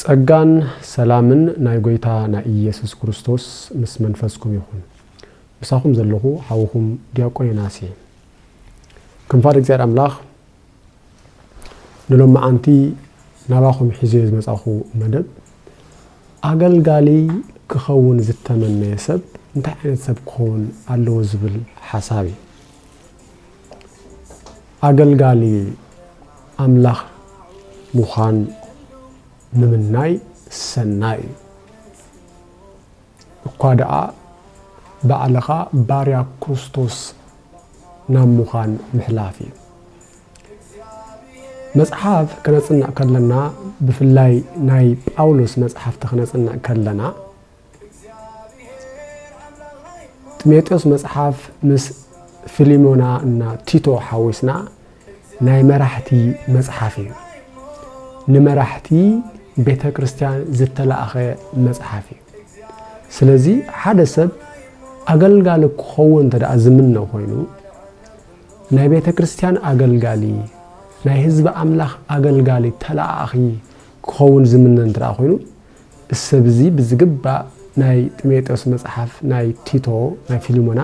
ጸጋን ሰላምን ናይ ጎይታ ናይ ኢየሱስ ክርስቶስ ምስ መንፈስኩም ይኹን። ምሳኹም ዘለኹ ሓውኹም ዲያቆን ዮናስ እየ። ከም ፍቓድ እግዚኣብሔር ኣምላኽ ንሎምዓንቲ ናባኹም ሒዘዮ ዝመጻኹ መደብ ኣገልጋሊ ክኸውን ዝተመነየ ሰብ እንታይ ዓይነት ሰብ ክኸውን ኣለዎ ዝብል ሓሳብ እዩ። ኣገልጋሊ ኣምላኽ ምዃን ምምናይ ሰናይ እዩ። እኳ ደኣ ባዕልኻ ባርያ ክርስቶስ ናብ ምዃን ምሕላፍ እዩ። መጽሓፍ ከነጽንዕ ከለና ብፍላይ ናይ ጳውሎስ መጽሓፍቲ ከነጽንዕ ከለና ጢሞቴዎስ መጽሓፍ ምስ ፊሊሞና እና ቲቶ ሓዊስና ናይ መራሕቲ መጽሓፍ እዩ። ንመራሕቲ ቤተ ክርስቲያን ዝተላእኸ መጽሓፍ እዩ። ስለዚ ሓደ ሰብ ኣገልጋሊ ክኸውን እንተ ደኣ ዝምነ ኮይኑ ናይ ቤተ ክርስቲያን ኣገልጋሊ ናይ ህዝቢ ኣምላኽ ኣገልጋሊ ተላኣኺ ክኸውን ዝምነ እንተ ኮይኑ እዚ ሰብ እዚ ብዝግባእ ናይ ጢሞጤዎስ መጽሓፍ ናይ ቲቶ ናይ ፊልሞና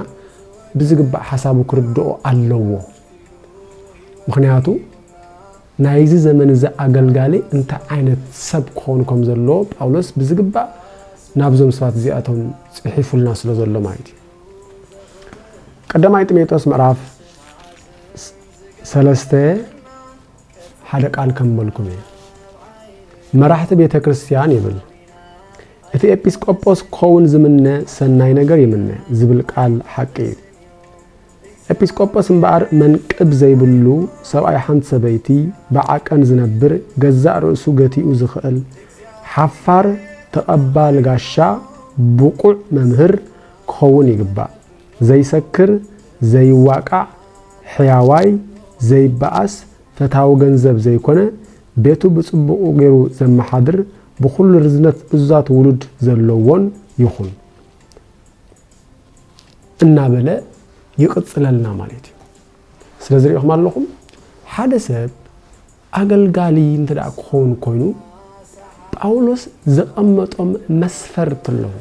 ብዝግባእ ሓሳቡ ክርድኦ ኣለዎ ምክንያቱ ናይዚ ዘመን እዚ ኣገልጋሊ እንታይ ዓይነት ሰብ ክኾኑ ከም ዘለዎ ጳውሎስ ብዝግባእ ናብዞም ሰባት እዚኣቶም ጽሒፉልና ስለ ዘሎ ማለት እዩ ቀዳማይ ጢሞቴዎስ ምዕራፍ ሰለስተ ሓደ ቃል ከምበልኩም እየ መራሕቲ ቤተ ክርስቲያን ይብል እቲ ኤጲስቆጶስ ክኸውን ዝምነ ሰናይ ነገር ይምነ ዝብል ቃል ሓቂ እዩ ኤጲስቆጶስ እምበኣር መንቅብ ዘይብሉ ሰብኣይ ሓንቲ ሰበይቲ ብዓቀን ዝነብር ገዛእ ርእሱ ገቲኡ ዝኽእል ሓፋር ተቐባል ጋሻ ብቑዕ መምህር ክኸውን ይግባእ ዘይሰክር ዘይዋቃዕ ሕያዋይ ዘይባኣስ ፈታዊ ገንዘብ ዘይኮነ ቤቱ ብጽቡቁ ጌሩ ዘማሓድር ብኩሉ ርዝነት እዙዛት ውሉድ ዘለዎን ይኩን እናበለ ይቅጽለልና ማሌት እዩ ስለዚ ሪኢኩም ኣለኩም ሓደ ሰብ ኣገልጋሊ እንተ ክኸውን ኮይኑ ጳውሎስ ዘቐመጦም መስፈርት ኣለዉ።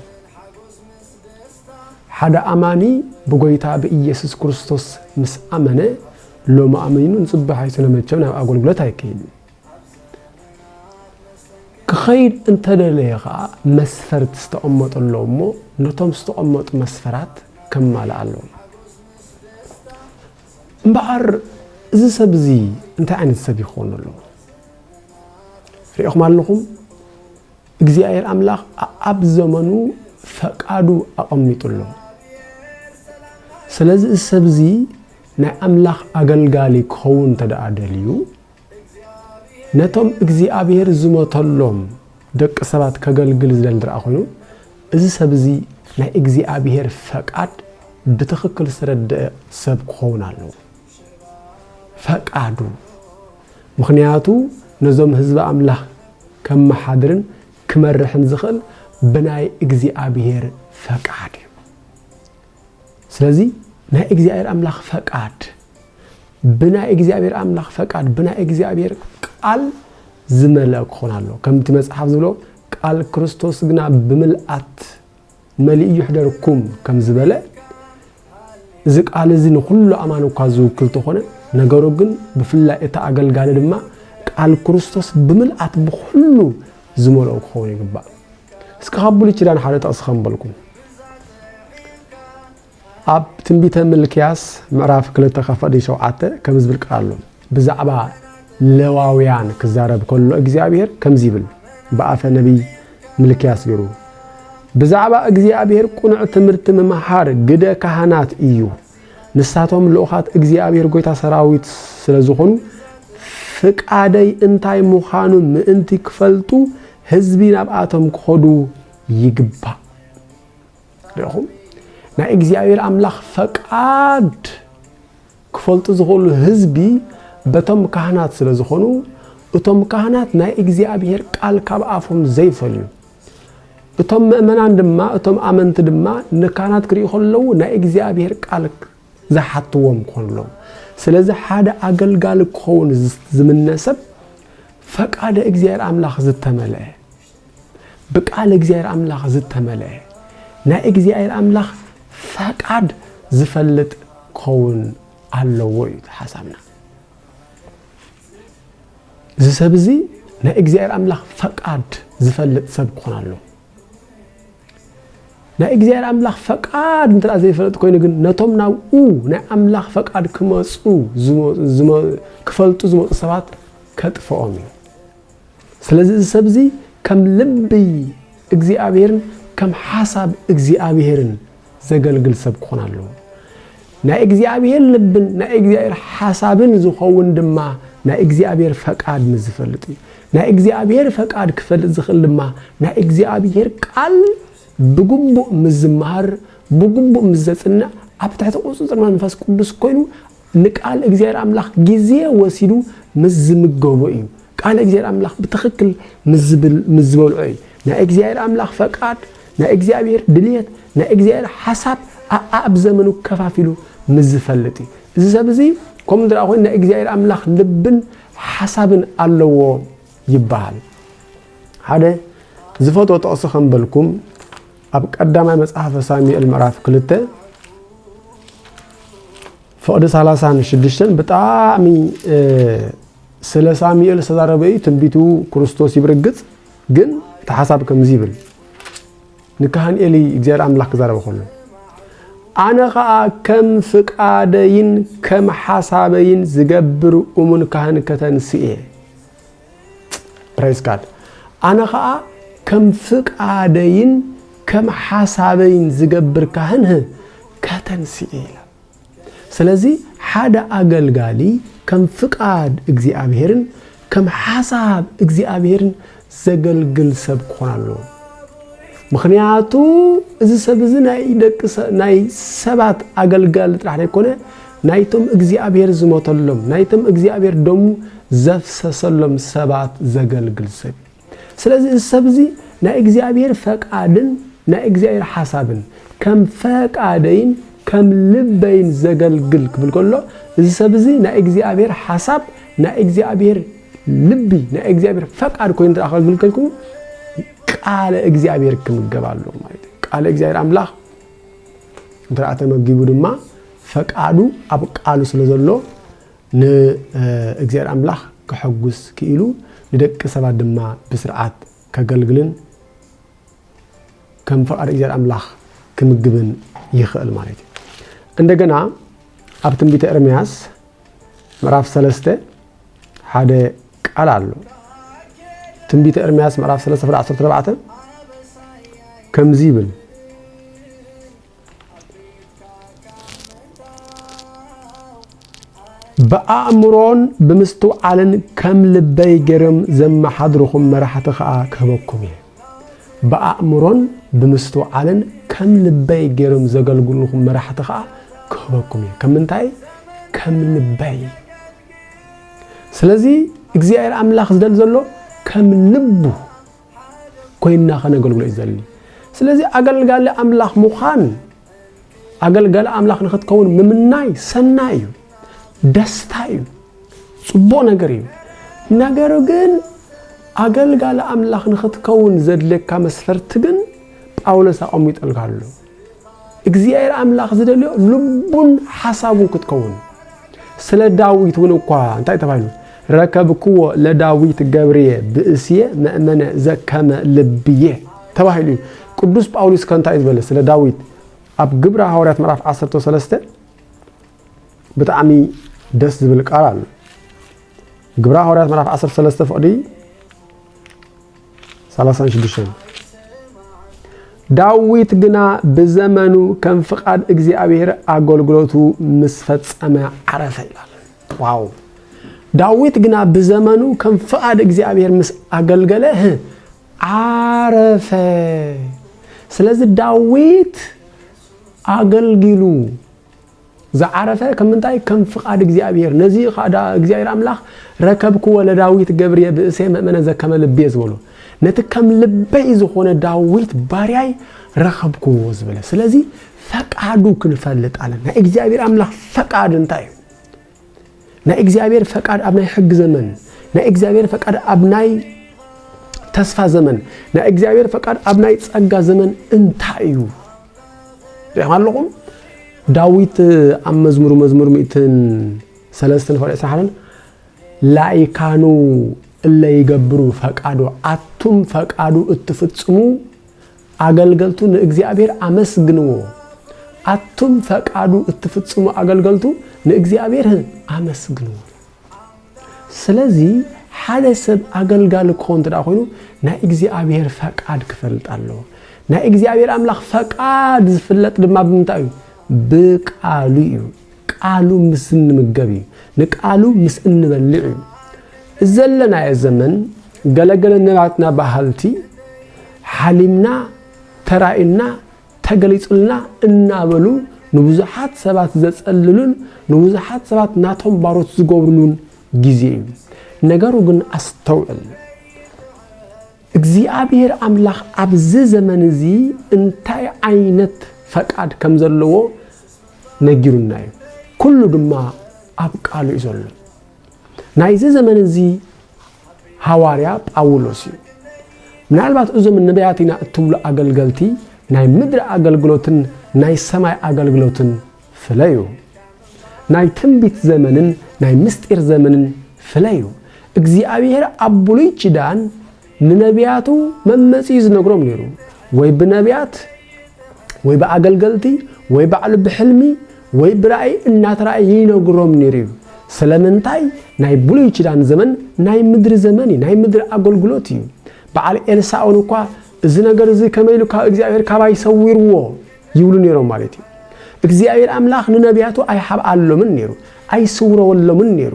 ሓደ ኣማኒ ብጎይታ ብኢየሱስ ክርስቶስ ምስ ኣመነ ሎሚ ኣመይኑ ንጽባሕ ኣይሱነ መቸም ናብ ኣገልግሎት ኣይከይድን። ክኸይድ እንተደለየ ኸኣ መስፈርት ዝተቐመጡ ኣለዉ እሞ ነቶም ዝተቐመጡ መስፈራት ከማልእ ኣለዎ። እምበኣር እዚ ሰብ እዚ እንታይ ዓይነት ሰብ እዩ ክኾን ኣለዎ? ርኢኹም ኣለኹም፣ እግዚኣብሔር ኣምላኽ ኣብ ዘመኑ ፈቃዱ ኣቐሚጡ ኣሎ። ስለዚ እዚ ሰብ እዚ ናይ ኣምላኽ ኣገልጋሊ ክኸውን እንተ ደኣ ደልዩ ነቶም እግዚኣብሄር ዝሞተሎም ደቂ ሰባት ከገልግል ዝደሊ እንተደኣ ኮይኑ፣ እዚ ሰብ እዚ ናይ እግዚኣብሄር ፈቃድ ብትኽክል ዝተረደኣ ሰብ ክኸውን ኣለዎ። ፈቃዱ ምኽንያቱ ነዞም ህዝቢ ኣምላኽ ከመሓድርን ክመርሕን ዝኽእል ብናይ እግዚኣብሄር ፈቃድ እዩ። ስለዚ ናይ እግዚኣብሔር ኣምላኽ ፈቃድ ብናይ እግዚኣብሔር ኣምላኽ ፈቃድ ብናይ እግዚኣብሔር ቃል ዝመልአ ክኾን ኣሎ ከምቲ መጽሓፍ ዝብሎ ቃል ክርስቶስ ግና ብምልኣት መሊኡ ይሕደርኩም ከም ዝበለ እዚ ቃል እዚ ንኩሉ ኣማን እኳ ዝውክል ተኾነ ነገሩ ግን ብፍላይ እቲ ኣገልጋሊ ድማ ቃል ክርስቶስ ብምልኣት ብኩሉ ዝመልኦ ክኸውን ይግባእ እስከ ካብ ብሉይ ኪዳን ሓደ ጥቕሲ ከምበልኩም ኣብ ትንቢተ ምልክያስ ምዕራፍ ክልተ ከፈዲ ሸውዓተ ከም ዝብል ቃል ኣሎ ብዛዕባ ለዋውያን ክዛረብ ከሎ እግዚኣብሄር ከምዚ ይብል ብኣፈ ነቢይ ምልክያስ ገይሩ ብዛዕባ እግዚኣብሄር ቁኑዕ ትምህርቲ ምምሃር ግደ ካህናት እዩ ንሳቶም ልኡኻት እግዚኣብሄር ጐይታ ሰራዊት ስለ ዝዀኑ፣ ፍቓደይ እንታይ ምዃኑ ምእንቲ ክፈልጡ ህዝቢ ናብኣቶም ክኸዱ ይግባእ። ርኢኹም? ናይ እግዚኣብሄር ኣምላኽ ፈቓድ ክፈልጡ ዝኽእሉ ህዝቢ በቶም ካህናት ስለ ዝዀኑ፣ እቶም ካህናት ናይ እግዚኣብሄር ቃል ካብ ኣፎም ዘይፈልዩ፣ እቶም መእመናን ድማ እቶም ኣመንቲ ድማ ንካህናት ክሪኡ ከለዉ ናይ እግዚኣብሔር ቃል ዝሓትዎም ክኾኑ ኣለዎም። ስለዚ ሓደ ኣገልጋሊ ክኸውን ዝምነ ሰብ ፈቃደ እግዚኣብሔር ኣምላኽ ዝተመልአ ብቃል እግዚኣብሔር ኣምላኽ ዝተመልአ ናይ እግዚኣብሔር ኣምላኽ ፈቃድ ዝፈልጥ ክኸውን ኣለዎ እዩ ሓሳብና። እዚ ሰብ እዚ ናይ እግዚኣብሔር ኣምላኽ ፈቃድ ዝፈልጥ ሰብ ክኾን ኣሎ ናይ እግዚኣብሔር ኣምላኽ ፈቃድ እንተ ዘይፈለጥ ኮይኑ ግን ነቶም ናብኡ ናይ ኣምላኽ ፈቃድ ክመፁ ክፈልጡ ዝመፁ ሰባት ከጥፍኦም እዩ ስለዚ እዚ ሰብ እዚ ከም ልቢ እግዚኣብሔርን ከም ሓሳብ እግዚኣብሔርን ዘገልግል ሰብ ክኾን ኣለዎ። ናይ እግዚኣብሔር ልብን ናይ እግዚኣብሔር ሓሳብን ዝኸውን ድማ ናይ እግዚኣብሔር ፈቃድ ምስ ዝፈልጥ እዩ። ናይ እግዚኣብሔር ፈቃድ ክፈልጥ ዝኽእል ድማ ናይ እግዚኣብሔር ቃል ብግቡእ ምስ ዝመሃር ብግቡእ ምስ ዘጽንዕ ኣብ ትሕቲ ቁጽጽር መንፈስ ቅዱስ ኮይኑ ንቃል እግዚኣብሔር ኣምላኽ ጊዜ ወሲዱ ምስ ዝምገቦ እዩ። ቃል እግዚኣብሔር ኣምላኽ ብትኽክል ምስ ዝበልዖ እዩ። ናይ እግዚኣብሔር ኣምላኽ ፈቃድ፣ ናይ እግዚኣብሔር ድልየት፣ ናይ እግዚኣብሔር ሓሳብ ኣኣብ ዘመኑ ከፋፊሉ ምስ ዝፈልጥ እዩ። እዚ ሰብ እዚ ከምኡ እንተ ኮይኑ ናይ እግዚኣብሔር ኣምላኽ ልብን ሓሳብን ኣለዎ ይበሃል። ሓደ ዝፈትዎ ጥቕሲ ከምበልኩም ኣብ ቀዳማይ መጽሓፈ ሳሙኤል ምዕራፍ ክልተ ፍቕዲ ሰላሳን ሽዱሽተን ብጣዕሚ ስለ ሳሙኤል ዝተዛረበ እዩ ትንቢቱ ክርስቶስ እዩ ብርግጽ ግን እቲ ሓሳብ ከምዚ ይብል ንካህን ኤሊ እግዚኣብሔር ኣምላኽ ክዛረበ ከሎ ኣነ ከዓ ከም ፍቃደይን ከም ሓሳበይን ዝገብር እሙን ካህን ከተንስእ እየ Praise God ኣነ ኸኣ ከም ፍቃደይን ከም ሓሳበይን ዝገብር ካህን ህ ከተንስኢ ኢላ። ስለዚ ሓደ ኣገልጋሊ ከም ፍቃድ እግዚኣብሔርን ከም ሓሳብ እግዚኣብሔርን ዘገልግል ሰብ ክኾን ኣለዎ። ምክንያቱ እዚ ሰብ እዚ ናይ ደቂ ናይ ሰባት ኣገልጋሊ ጥራሕ ዘይኮነ ናይቶም እግዚኣብሄር ዝሞተሎም፣ ናይቶም እግዚኣብሄር ደሙ ዘፍሰሰሎም ሰባት ዘገልግል ሰብ እዩ። ስለዚ እዚ ሰብ እዚ ናይ እግዚኣብሄር ፈቃድን ናይ እግዚኣብሄር ሓሳብን ከም ፈቃደይን ከም ልበይን ዘገልግል ክብል ከሎ እዚ ሰብ እዚ ናይ እግዚኣብሄር ሓሳብ ናይ እግዚኣብሄር ልቢ ናይ እግዚኣብሄር ፈቃድ ኮይኑ ደኣ ከገልግል ከልኩ ቃለ እግዚኣብሄር ክምገብ ኣለዎ ማለት እዩ። ቃለ እግዚኣብሄር ኣምላኽ እንተደኣ ተመጊቡ ድማ ፈቃዱ ኣብ ቃሉ ስለ ዘሎ ንእግዚኣብሔር ኣምላኽ ከሐጉስ ክኢሉ ንደቂ ሰባት ድማ ብስርዓት ከገልግልን ከም ፈቃድ እግዚኣብሔር ኣምላኽ ክምግብን ይኽእል ማለት እዩ። እንደገና ኣብ ትንቢተ ኤርምያስ ምዕራፍ ሰለስተ ሓደ ቃል ኣሎ ትንቢተ ኤርምያስ ምዕራፍ ሰለስተ ፍረ ዓሰርተ ኣርባዕተ ከምዚ ይብል ብኣእምሮን ብምስትውዓልን ከም ልበይ ገይሮም ዘመሓድርኹም መራሕቲ ኸዓ ክህበኩም እየ ብኣእምሮን ብምስትውዓልን ከም ልበይ ገይሮም ዘገልግሉኹም መራሕቲ ኸዓ ክህበኩም እየ ከም ምንታይ ከም ልበይ ስለዚ እግዚኣብሔር ኣምላኽ ዝደሊ ዘሎ ከም ልቡ ኮይንና ከነገልግሎ እዩ ዝደሊ ስለዚ ኣገልጋሊ ኣምላኽ ምዃን ኣገልጋሊ ኣምላኽ ንኽትከውን ምምናይ ሰናይ እዩ፣ ደስታ እዩ፣ ጽቡቕ ነገር እዩ። ነገር ግን ኣገልጋሊ ኣምላኽ ንኽትከውን ዘድልየካ መስፈርቲ ግን ጳውሎስ ኣቐሚጠልካ ኣሎ። እግዚኣብሔር ኣምላኽ ዝደልዮ ልቡን ሓሳቡን ክትከውን ስለ ዳዊት እውን እኳ እንታይ ተባሂሉ ረከብክዎ ለዳዊት ገብርየ ብእስየ መእመነ ዘከመ ልብየ ተባሂሉ እዩ። ቅዱስ ጳውሊስ ከ እንታይ እዩ ዝበለ ስለ ዳዊት ኣብ ግብረ ሃዋርያት ምዕራፍ ዓሰርተ ሰለስተ ብጣዕሚ ደስ ዝብል ቃል ኣሎ። ግብረ ሃዋርያት ምዕራፍ ዓሰርተ ሰለስተ ፍቕዲ ሰላሳን ሽዱሽተን ዳዊት ግና ብዘመኑ ከም ፍቓድ እግዚኣብሔር ኣገልግሎቱ ምስ ፈጸመ ዓረፈ ይላል። ዋው ዳዊት ግና ብዘመኑ ከም ፍቓድ እግዚኣብሔር ምስ ኣገልገለ ህ ዓረፈ። ስለዚ ዳዊት ኣገልጊሉ ዝዓረፈ ከም ምንታይ ከም ፍቓድ እግዚኣብሔር ነዚ ካዳ እግዚኣብሔር ኣምላኽ ረከብክዎ ለዳዊት ገብርየ ብእሴ መእመነ ዘከመ ልቤ ዝበሎ ነቲ ከም ልበይ ዝኾነ ዳዊት ባርያይ ረኸብክዎ ዝበለ ስለዚ ፈቃዱ ክንፈልጥ ኣለና። ናይ እግዚኣብሔር ኣምላኽ ፈቃድ እንታይ እዩ? ናይ እግዚኣብሔር ፈቃድ ኣብ ናይ ሕግ ዘመን ናይ እግዚኣብሔር ፈቃድ ኣብ ናይ ተስፋ ዘመን ናይ እግዚኣብሔር ፈቃድ ኣብ ናይ ጸጋ ዘመን እንታይ እዩ ሪኹም ኣለኹም ዳዊት ኣብ መዝሙሩ መዝሙር ሚእትን ሰለስትን ፈሪዕ ስራሕን ላይካኑ እለ ይገብሩ ፈቃዱ ኣቱም ፈቃዱ እትፍጽሙ ኣገልገልቱ ንእግዚኣብሔር ኣመስግንዎ ኣቱም ፈቃዱ እትፍጽሙ ኣገልገልቱ ንእግዚኣብሔር ኣመስግንዎ ስለዚ ሓደ ሰብ ኣገልጋሊ ክኸውን እንተ ኮይኑ ናይ እግዚኣብሔር ፈቃድ ክፈልጥ ኣለዎ ናይ እግዚኣብሔር ኣምላኽ ፈቃድ ዝፍለጥ ድማ ብምንታይ እዩ ብቃሉ እዩ ቃሉ ምስ እንምገብ እዩ፣ ንቃሉ ምስ እንበልዕ እዩ። እዚ ዘለናዮ ዘመን ገለ ገለ ናትና በሃልቲ ሓሊምና፣ ተራእዩና፣ ተገሊጹልና እናበሉ ንብዙሓት ሰባት ዘጸልሉን ንብዙሓት ሰባት ናቶም ባሮት ዝገብርሉን ግዜ እዩ። ነገሩ ግን ኣስተውዕል። እግዚኣብሔር ኣምላኽ ኣብዚ ዘመን እዚ እንታይ ዓይነት ፈቃድ ከም ዘለዎ ነጊሩና እዩ። ኩሉ ድማ ኣብ ቃሉ እዩ ዘሎ። ናይዚ ዘመን እዚ ሃዋርያ ጳውሎስ እዩ። ምናልባት እዞም ነቢያት ኢና እትብሉ ኣገልገልቲ ናይ ምድሪ ኣገልግሎትን ናይ ሰማይ ኣገልግሎትን ፍለዩ ናይ ትንቢት ዘመንን ናይ ምስጢር ዘመንን ፍለዩ እግዚኣብሔር ኣብ ብሉይ ኪዳን ንነብያቱ መመጽኢ ዝነግሮም ነይሩ፣ ወይ ብነብያት ወይ ብኣገልገልቲ ወይ ባዕሉ ብሕልሚ ወይ ብራእይ እናተራእየ ይነግሮም ነይሩ እዩ። ስለምንታይ ናይ ብሉይ ኪዳን ዘመን ናይ ምድሪ ዘመን እዩ፣ ናይ ምድሪ ኣገልግሎት እዩ። በዓል ኤልሳእውን እኳ እዚ ነገር እዚ ከመይ ኢሉ ካብ እግዚኣብሔር ካባይ ሰዊርዎ ይብሉ ነይሮም ማለት እዩ። እግዚኣብሔር ኣምላኽ ንነብያቱ ኣይሓብኣሎምን ነይሩ፣ ኣይስውረወሎምን ነይሩ።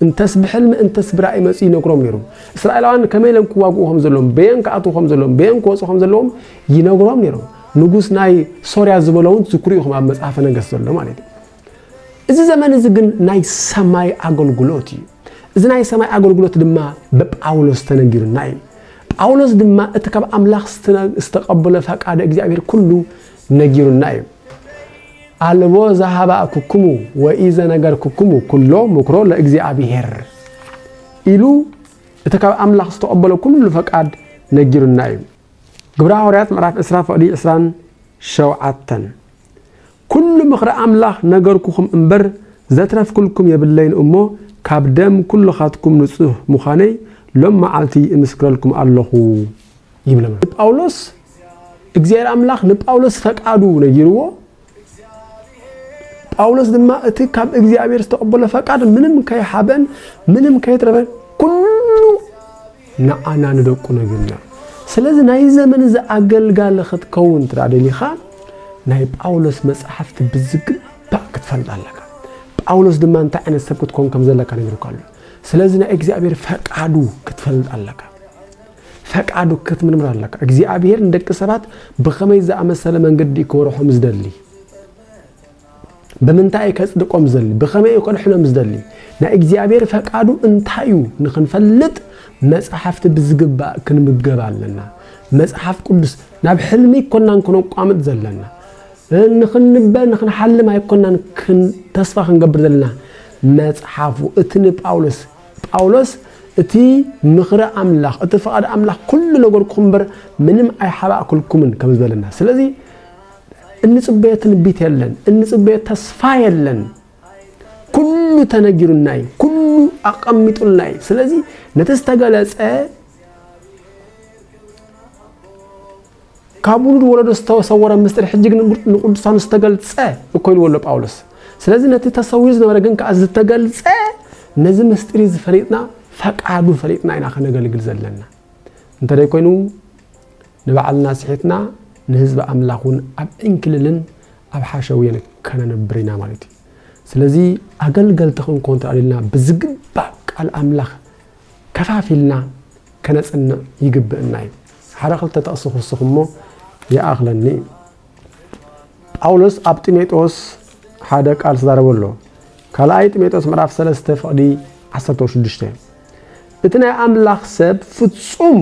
እንተስ ብሕልሚ እንተስ ብራእይ መጺኡ ይነግሮም ነይሩ። እስራኤላውያን ከመይ ኢሎም ክዋግኡ ከም ዘለዎም፣ በየን ክኣትዉ ከም ዘለዎም፣ በየን ክወጹ ከም ዘለዎም ይነግሮም ነይሩ። ንጉስ ናይ ሶርያ ዝበሎ እውን ትዝክሩ ኢኹም ኣብ መጽሓፈ ነገሥት ዘሎ ማለት እዩ። እዚ ዘመን እዚ ግን ናይ ሰማይ ኣገልግሎት እዩ። እዚ ናይ ሰማይ ኣገልግሎት ድማ ብጳውሎስ ተነጊሩና እዩ ጳውሎስ ድማ እቲ ካብ ኣምላኽ ዝተቐበለ ፈቃደ እግዚኣብሔር ኩሉ ነጊሩና እዩ ኣልቦ ዘሃባእኩክሙ ወኢዘነገርኩክሙ ኩሎ ምክሮ ለእግዚኣብሔር ኢሉ እቲ ካብ ኣምላኽ ዝተቐበሎ ኩሉ ፈቃድ ነጊሩና እዩ። ግብረ ሃዋርያት ምዕራፍ ዕስራ ፈቕዲ ዕስራን ሸውዓተን ኩሉ ምኽሪ ኣምላኽ ነገርኩኹም እምበር ዘትረፍኩልኩም የብለይን እሞ ካብ ደም ኩልኻትኩም ንጹህ ምዃነይ ሎም መዓልቲ እምስክረልኩም ኣለኹ። ይብለና። ጳውሎስ እግዚኣብሔር ኣምላኽ ንጳውሎስ ፈቃዱ ነጊርዎ፣ ጳውሎስ ድማ እቲ ካብ እግዚኣብሔር ዝተቐበሎ ፈቃድ ምንም ከይሓበን ምንም ከይትረፈን ኩሉ ንዓና ንደቁ ነግርና። ስለዚ ናይ ዘመን እዚ ኣገልጋሊ ክትከውን ትዳ ደሊኻ ናይ ጳውሎስ መጽሓፍቲ ብዝግባእ ክትፈልጥ ኣለካ። ጳውሎስ ድማ እንታይ ዓይነት ሰብ ክትኮን ከም ዘለካ ነግርካ ኣሎ። ስለዚ ናይ እግዚኣብሔር ፈቃዱ ክትፈልጥ ኣለካ። ፈቃዱ ክትምርምር ኣለካ። እግዚኣብሄር ንደቂ ሰባት ብኸመይ ዝኣመሰለ መንገዲ እዩ ክወርሖም ዝደሊ? ብምንታይ እዩ ከጽድቆም ዝደሊ? ብኸመይ እዩ ከድሕኖም ዝደሊ? ናይ እግዚኣብሄር ፈቃዱ እንታይ እዩ ንክንፈልጥ መጽሓፍቲ ብዝግባእ ክንምገብ ኣለና። መጽሓፍ ቅዱስ ናብ ሕልሚ ይኮናን ክነቋምጥ ዘለና ንክንበ ንክንሓልም ኣይኮናን ተስፋ ክንገብር ዘለና መጽሓፉ እቲ ንጳውሎስ ጳውሎስ እቲ ምኽሪ ኣምላኽ እቲ ፍቓድ ኣምላኽ ኩሉ ነገርኩም እምበር ምንም ኣይሓባእኩልኩምን ከም ዝበለና ስለዚ እንጽበዮ ትንቢት የለን እንጽበዮ ተስፋ የለን ኩሉ ተነጊሩና እዩ ኩሉ ኣቐሚጡልና እዩ ስለዚ ነቲ ዝተገለጸ ካብ ውሉድ ወለዶ ዝተሰወረ ምስጢር ሕጂ ግን ንቅዱሳኑ ዝተገልጸ እኮ ኢልዎ ኣሎ ጳውሎስ። ስለዚ ነቲ ተሰዊሩ ዝነበረ ግን ከኣ ዝተገልጸ ነዚ ምስጢር እዚ ፈሊጥና ፈቃዱ ፈሊጥና ኢና ከነገልግል ዘለና። እንተደይ ኮይኑ ንባዕልና ስሒትና ንህዝቢ ኣምላኽ እውን ኣብ ዕንክልልን ኣብ ሓሸውየን ከነንብር ኢና ማለት እዩ። ስለዚ ኣገልገልቲ ክንኮን ተራእልና ብዝግባእ ቃል ኣምላኽ ከፋፊልና ከነጽንዕ ይግብእና እዩ። ሓደ ክልተ ጥቕሲ ክውስኽ እሞ ይኣኽለኒ እዩ። ጳውሎስ ኣብ ጢሞጦስ ሓደ ቃል ዝዛረቦ ኣሎ። ካልኣይ ጢሞጦስ ምዕራፍ 3 ፍቕዲ 16 እቲ ናይ ኣምላኽ ሰብ ፍጹም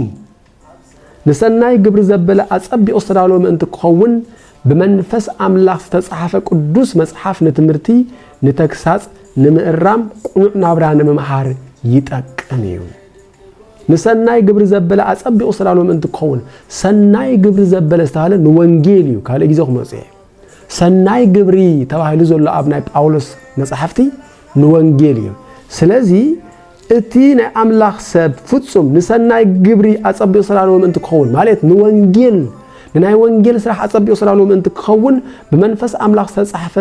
ንሰናይ ግብሪ ዘበለ ኣጸቢቑ ዝተዳለወ ምእንቲ ክኸውን ብመንፈስ ኣምላኽ ዝተጻሕፈ ቅዱስ መጽሓፍ ንትምህርቲ፣ ንተግሳጽ፣ ንምእራም፣ ቅኑዕ ናብራ ንምምሃር ይጠቅም እዩ። ንሰናይ ግብሪ ዘበለ ኣጸቢቑ ዝተዳለወ ምእንቲ ክኸውን ሰናይ ግብሪ ዘበለ ዝተባህለ ንወንጌል እዩ፣ ካልእ ግዜ ክመጽእ እዩ። ሰናይ ግብሪ ተባሂሉ ዘሎ ኣብ ናይ ጳውሎስ መጻሕፍቲ ንወንጌል እዩ። ስለዚ እቲ ናይ ኣምላኽ ሰብ ፍጹም ንሰናይ ግብሪ ኣጸቢቑ ስራልዎ ምእንቲ ክኸውን ማለት ንወንጌል ንናይ ወንጌል ስራሕ ኣጸቢቑ ስራልዎ ምእንቲ ክኸውን ብመንፈስ ኣምላኽ ዝተጻሕፈ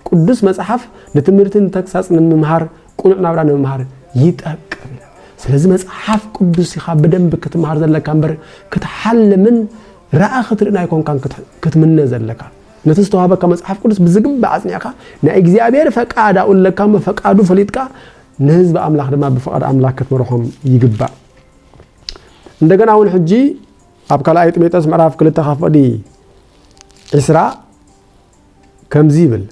ቅዱስ መጽሓፍ ንትምህርቲ ንተግሳጽ ንምምሃር ቅኑዕ ናብራ ንምምሃር ይጠቅም። ስለዚ መጽሓፍ ቅዱስ ኢኻ ብደንቢ ክትምሃር ዘለካ እምበር ክትሓልምን ረኣ ክትርእን ኣይኮንካን ክትምነ ዘለካ። ነቲ ዝተዋህበካ መጽሓፍ ቅዱስ ብዝግባእ ኣጽኒዕካ ናይ እግዚኣብሔር ፈቃድ ኣኡለካ እሞ ፈቃዱ ፈሊጥካ ንህዝቢ ኣምላኽ ድማ ብፍቓድ ኣምላክ ክትመርሖም ይግባእ። እንደገና እውን ሕጂ ኣብ ካልኣይ ጢሞቴዎስ ምዕራፍ ክልተ ካፈዲ ዕስራ ከምዚ ይብል፣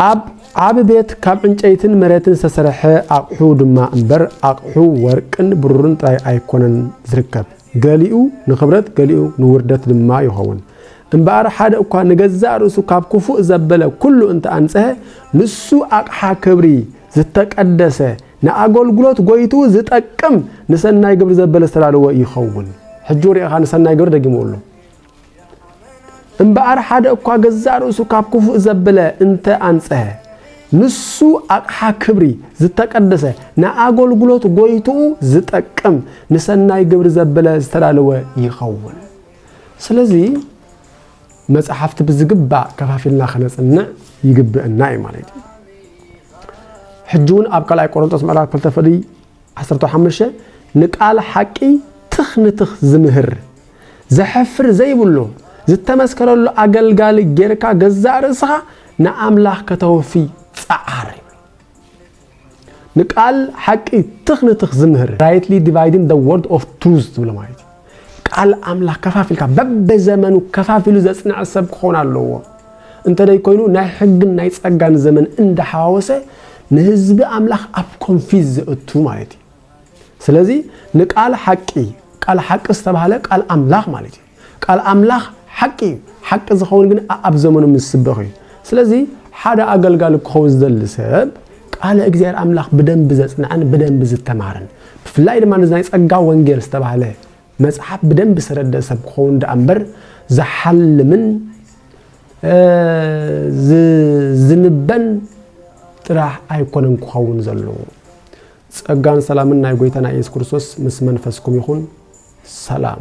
ኣብ ዓቢ ቤት ካብ ዕንጨይትን መሬትን ዝተሰርሐ ኣቕሑ ድማ እምበር ኣቕሑ ወርቅን ብሩርን ጥራይ ኣይኮነን ዝርከብ። ገሊኡ ንኽብረት ገሊኡ ንውርደት ድማ ይኸውን። እምበኣር ሓደ እኳ ንገዛእ ርእሱ ካብ ክፉእ ዘበለ ኩሉ እንተ ኣንጽሀ፣ ንሱ ኣቕሓ ክብሪ፣ ዝተቀደሰ፣ ንኣገልግሎት ጎይትኡ ዝጠቅም ንሰናይ ግብሪ ዘበለ ዝተዳለወ ይኸውን። ሕጂ ውርኤኻ ንሰናይ ግብሪ ደጊምዎ ኣሎ። እምበኣር ሓደ እኳ ገዛእ ርእሱ ካብ ክፉእ ዘብለ እንተ ኣንጽሀ ንሱ ኣቕሓ ክብሪ ዝተቀደሰ ንኣገልግሎት ጎይትኡ ዝጠቅም ንሰናይ ግብሪ ዘብለ ዝተዳለወ ይኸውን ስለዚ መጽሓፍቲ ብዝግባእ ከፋፊልና ከነጽንዕ ይግብእና እዩ ማለት እዩ ሕጂ እውን ኣብ ካልኣይ ቆሮንጦስ ምዕራፍ ክልተ ፍልይ ዓሰርተው ሓሙሽተ፣ ንቃል ሓቂ ትኽ ንትኽ ዝምህር፣ ዘሕፍር ዘይብሉ፣ ዝተመስከረሉ ኣገልጋሊ ጌርካ ገዛእ ርእስኻ ንኣምላኽ ከተወፊ ጸዓር። ንቃል ሓቂ ትኽ ንትኽ ዝምህር፣ Rightly Dividing the Word of Truth፣ ዝብሎ ማለት እዩ። ቃል ኣምላኽ ከፋፊልካ በብዘመኑ ከፋፊሉ ዘጽንዐ ሰብ ክኾን ኣለዎ እንተደይ ኮይኑ ናይ ሕግን ናይ ጸጋን ዘመን እንዳሓዋወሰ ንህዝቢ ኣምላኽ ኣብ ኮንፊዝ ዘእቱ ማለት እዩ ስለዚ ንቃል ሓቂ ቃል ሓቂ ዝተባህለ ቃል ኣምላኽ ማለት እዩ ቃል ኣምላኽ ሓቂ እዩ ሓቂ ዝኸውን ግን ኣብ ዘመኑ ምስ ስበኽ እዩ ስለዚ ሓደ ኣገልጋሊ ክኸውን ዝደሊ ሰብ ቃለ እግዚኣብሔር ኣምላኽ ብደንቢ ዘጽንዐን ብደንቢ ዝተማርን ብፍላይ ድማ ነዚ ናይ ጸጋ ወንጌል ዝተባህለ መጽሓፍ ብደንቢ ዝተረድእ ሰብ ክኸውን ደኣ እምበር ዝሓልምን ዝንበን ጥራሕ ኣይኮነን ክኸውን ዘለዎ። ጸጋን ሰላምን ናይ ጎይታና ኢየሱስ ክርስቶስ ምስ መንፈስኩም ይኹን። ሰላም